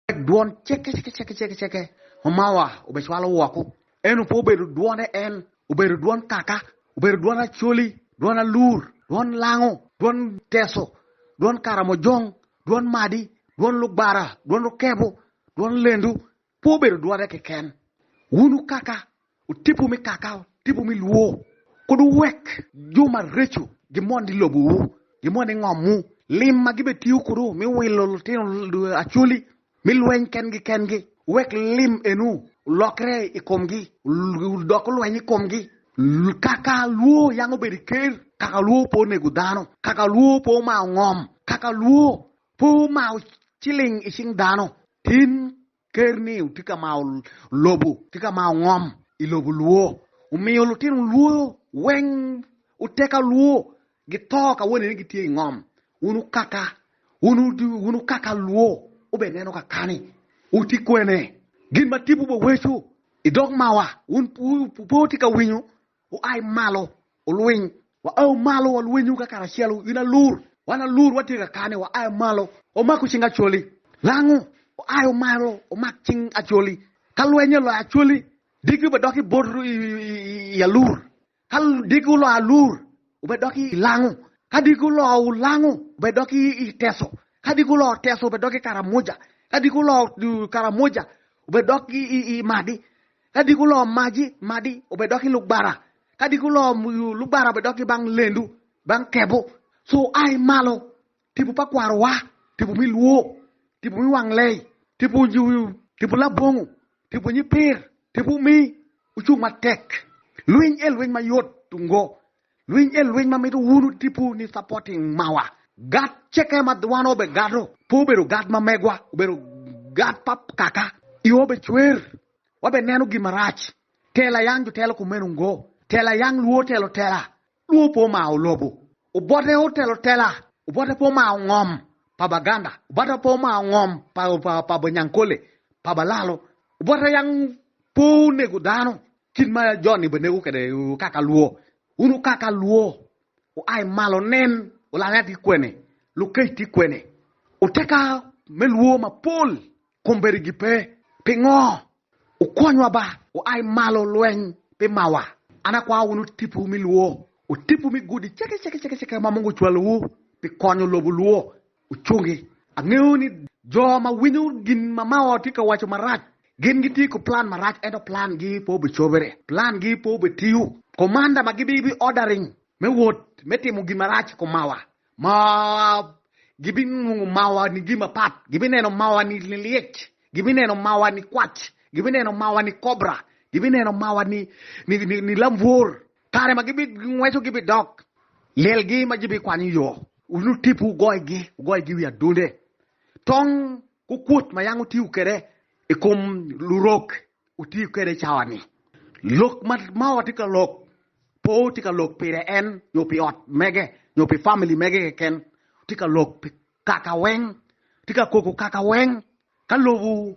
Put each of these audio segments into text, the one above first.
Wek dwon cekecekecekeceke ma mawa obecwalo woko, eno pe obedo dwone en, obedo dwon kaka, obedo dwon Acholi, dwon Alur, dwon Lango, dwon Teso, dwon Karamojong, dwon Madi, dwon Lugbara, dwon Rukebo, dwon Lendu, pe obedo dwone keken. Wunu kaka, Otipu me kaka otipu me lwo, kud wuwek jo mareco gimond i lobowu, gimond i ngomwu. Lim ma gibetiyo kudu me wilo lutino Acholi me lweny kengi kengi, wek lim enu olokre i komgi, odok olweny i komgi. Kaka lwo yango bedo i ker, kaka lwo pe onego dano, kaka lwo pe omaro ngom, kaka lwo pe omaro ciling i cing dano, tin Ker-ni tye ka maro lobo, tye ka maro ngom i lobo lwo. Omiyo lutino lwo weng oteka lwo gito ka wone ni gitye i ngom. Wun okaka, wun okaka lwo, wubed neno kakani, wuti kwene? Gin ma tipo beweco i dog mawa, wun pe wutye ka winyo, Wuai malo, wulwiny! Waayo malo, walwenyu ka karacel, in alur! Wan alur, watye ka kane, waayo malo, wamaku cing Acholi! Lango, wuayo malo, wumak cing Acholi! Ka lweny oloyo Acholi, diki wubedok i bot i alur, ka diki oloyo alur, wubedok i lango, ka diki oloyo lango, wubedok i teso, ka diki oloyo teso, wubedok i Karamoja, ka diki oloyo Karamoja, wubedok i Madi, Ka diki oloo maji, madi obed dok i lugbara, ka diki oloo lugbara obed dok ki bang lendu, bang kebo. So ai malo, tipo pa kwarowa, tipo mi lwo, tipo mi wang lei, tipo tipo labongo, tipo nyipir, tipo mi ocung matek. Lwiny e lwiny mayot tungo, Lwiny en lwiny ma mito wunu tipo ni supporting mawa God ceke ma wan obe God'o pe obedo God ma megwa obedo God pa kaka i obe cwer wa be neno gin marac tela yang jo telo kumeno ngo tela yang luo otelo tela luo pe omaro lobo obote otelo tela obote pe omaro ngom pa Baganda obote pe omaro ngom pa pa Banyankole pa Balalo obote yang pe onego dano Kit ma Jon-ni bene neko kwede wuka alwor. Wun wuka alwor, wua i malo wunen, wulalya tye kwene, lukec tye kwene, wuteka me lwor mapol komberegi pe. Pingo? Wukwonywa ba, wua i malo lweny pi mawa. An akwao wunu tipo me lwor, tipo me gudi ceke ceke ma mogo ocwalowu pi konyo lobo lwor. ocungi. Angeyo ni jo ma winyo gin ma Mao tye ka waco marac, gin gitye ki plan marac ento plan gi pe obicobere, plan gi pe obitiyo. Komanda ma gibi bi ordering me wot me timo gin marac i kom Mao, Mao gibi nongo Mao ni gin mapat, gibi neno Mao ni lyec, gibi neno Mao ni kwac, gibi neno Mao ni kobra, gibi neno Mao ni, ni, ni, ni lambwor. Kare ma gibingweco gibidok lelgi ma gibikwanyo yo. Wun otipu wugoyogi, wugoyogi i wi adunde. Tong ku kwot ma yam wutiyo kwede i kom lurok wutiyo kwede i cawa-ni. Lok ma mawa tye ka lok pe wutye ka lok pire en nyo pi ot mege nyo pi famili mege keken. Wutye ka lok pi kaka weng, wutye ka koko kaka weng ka lobo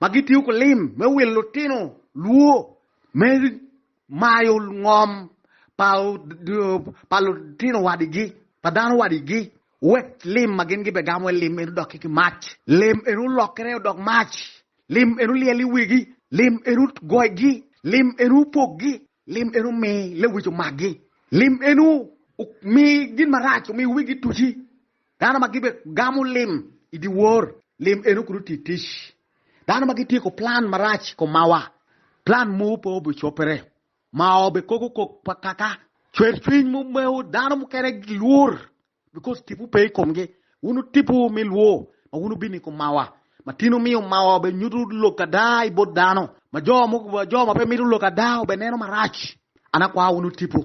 ma gitiyo ki lim me wil lutino lwo me mayo ngom pa lutino wadigi, pa dano wadigi, wek lim ma gin gibegamo i lim eni odoki ki mac. Lim eni olokere odok mac, lim eni olyel i wigi, lim eni ogoyogi, lim eni opogi, lim eni omi lewic omagi, lim eni omi gin marac omi wigi tuci. Dano ma gibe gamo lim i dyewor, lim eno kulu ti tic. Dano ma gityeko plan marac ko mawa, plan mowu pe obe copere. Mawa obe koko kok pa kaka. Cwer cwiny mu mewu, dano mukene gilwur because tipwu pe i komgi. Wun wu tipwu mi lwo ma wun wubino i kom mawa. Ma tin wumiyo mawa obe nyutu lok ada i bot dano. Ma jo ma pe mito lok ada obe neno marac. An akwao wun wutipwu.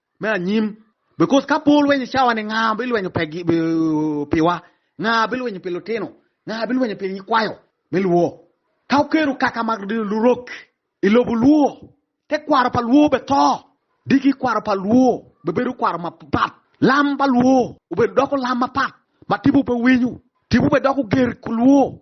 me anyim. Because ka pe olweny i cawa-ni, nga bilwenyo piwa? Nga bilwenyo pi lutino? Nga bilwenyo pi nyikwayo me lwo? Ka oketo kaka ma lurok i lobo lwo, te kwaro pa lwo be to. Diki kwaro pa lwo be bedo kwaro mapat. Lam pa lwo obedo doko lam mapat ma tipo pe winyo. Tipo be doko ger ku lwo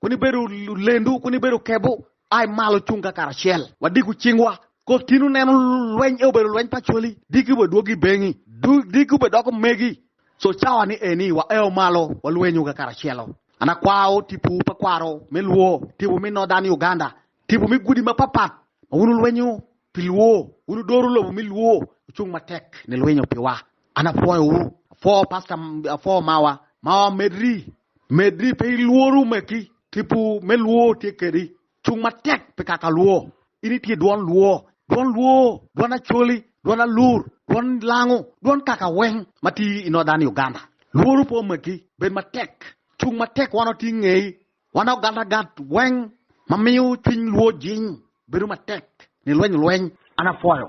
Koni bedo lendu, koni bedo kebu, ai malo cung ka karacel, wadiku cingwa. Kot kino neno lweny e obedo lweny pa coli, diki be dwogi bengi, diki be doko megi. So cawa ni eni waeo malo walwenyu ka karacelo. An akwao tipu pa kwaro me Luo, tipu mi Northern Uganda, tipu mi gudi ma papat ma wun wulwenyu pi Luo, wun wudoro lobo mi Luo, wucung matek ni lwinyo piwa. An apwoyo wu, apwoo pastor, apwoo mawa, mawa medri, medri pe ilworu me ki, tipo me lwor tye kedi, cung matek pi kaka lwor, in itye dwon lwor, dwon lwor, dwon acholi, dwon alur, dwon lango, dwon kaka weng ma tye i Northern Uganda, lworu pe omegi, bed matek, cung matek wan watye ingei, wan ogatagat weng ma miyo cwiny lwor jiny, bedo matek, nilweny lweny. An apwoyo